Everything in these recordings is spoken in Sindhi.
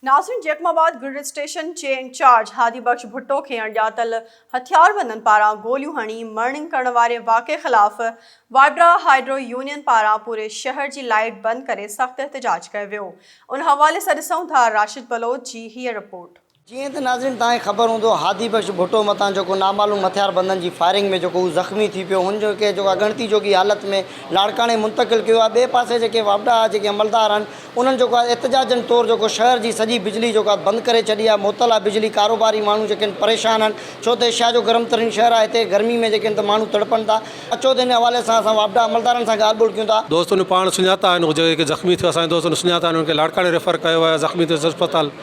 ناظرين جيڪب آباد گرڊ اسٽيشن جي انچارج هادي بخش ڀٽو کي اڻڄاتل هٿياربندن پاران گوليون هڻي مرڻنگ ڪرڻ واري واقعي خلاف وائبرا هائيڊرو يونين پاران پوري شهر جي لائيٽ بند ڪري سخت احتجاج ڪيو ويو ان حوالي سان ڏسون ٿا راشد بلوچ جي هيء رپورٽ. جيئن ته ناظرين توهان کي خبر هوندو هادي بخش ڀٽو مٿان جيڪو نامعلوم هٿياربندن جي فائرنگ ۾ جيڪو هو زخمي ٿي پيو هن کي جيڪو اڳڻتي جوڳي حالت ۾ لاڙڪاڻي منتقل ڪيو آهي ٻئي پاسي جيڪي وابڊا جيڪي عملدار آهن انهن جيڪو آهي احتجاجن طور جيڪو شهر جي سڄي بجلي جيڪو آهي بند ڪري ڇڏي آهي معطل آهي بجلي ڪاروباري ماڻهو جيڪي آهن پريشان آهن ڇو ته ايشيا جو گرم ترين شهر آهي هتي گرمي ۾ جيڪي آهن ته ماڻهو تڙپن ٿا اچو ته ان حوالي سان اسان واپڊا عملدارن سان ڳالهه ٻولهه ڪيون ٿا. دوستن جو پاڻ سڃاتا آهن اهي جيڪي زخمي ٿيو اسان جي دوستن سڃاتا آهن انهن کي لاڙڪاڻي ريفر ڪيو ويو آهي زخمي ٿيو اسپتال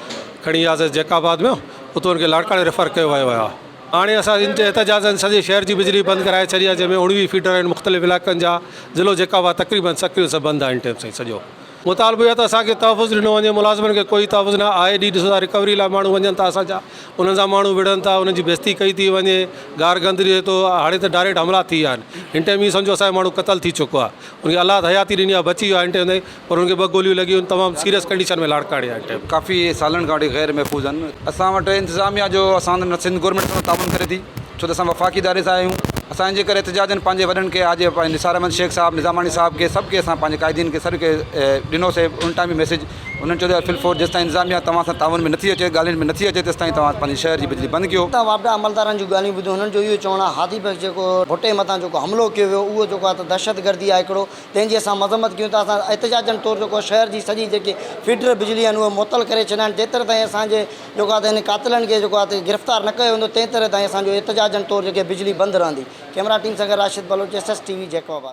کڻي وياسي جيڪب آباد ۾ اتو انهن کي لاڙڪاڻي ريفر ڪيو ويو آهي. هاڻي اسان جي احتجاجن سڄي شهر جي بجلي بند ڪرائي ڇڏي آهي جنهن ۾ اوڻويهه فيڊر آهن مختلف علائقن جا ضلعو جيڪا هئا تقريبن سڪيل سڀ بند آهن ٽيم سائين سڄو مطالبو اهي آهي ته اسان کي تحفظ ڏنو وڃي ملازمن کي ڪوئي تحفظ نه آهي ڏينهن ڏسو ٿا رڪوري لاء ماڻهو وڃن ٿا اسان جا انهن سان ماڻهو وڙهن ٿا انهن جي بيستي ڪئي ٿي وڃي گار گند ڏي ٿو هاڻي ته ڊائريڪٽ حملا ٿي ويا آهن هن ٽيم هي سمجهو اسان جو ماڻهو قتل ٿي چڪو آهي ان کي الله حياتي ڏني آهي بچي ويو آهي هن ٽيم تائين پر هن کي ٻه گوليون لڳيون هن تمام سيريس ڪنڊيشن ۾ لاڙڪاڻي آهي ٽيم. ڪافي سالن کان وٺي غير محفوظ آهن اسان وٽ انتظاميا جو اسان سان سنڌ گورنمينٽ سان تعاون ڪري ٿي ڇو ته اسان وفاقي اداري سان آهيون اسان جي ڪري احتجاجن پنهنجي وڏن کي آجي پنهنجي نثار احمد شيخ صاحب نظاماڻي صاحب کي سڀ کي اسان پنهنجي قائدين کي سڏ ڪري ڏنو سي ان ٽائيم به ميسيج انهن چيو ته فل فور جيستائين انتظاميا توهان سان تعاون ۾ نٿي اچي ڳالهين ۾ نٿي اچي تيستائين توهان پنهنجي شهر جي بجلي بند ڪيو. اتان واپڊا عملدارن جون ڳالهيون ٻڌيون هنن جو اهو چوڻ آهي هادي بخش جيڪو ڀٽي مٿان جيڪو حملو ڪيو ويو اهو جيڪو آهي ته دهشتگردي آهي هڪڙو تنهن جي اسان مذمت ڪيون ٿا، اسان احتجاجن طور جيڪو شهر جي سڄي جيڪي فيڊر بجلي آهن اهي معطل ڪري ڇڏيا آهن جيتر تائين اسان جي جيڪو آهي ته هن قاتلن کي جيڪو آهي ته گرفتار نه ڪيو ويندو تنهن تر تائين اسان جو احتجاجن طور جيڪي بجلي بند رهندي ڪئميرا ٽيم سان گڏ Rashid Baloch S S T V Jacob آباد.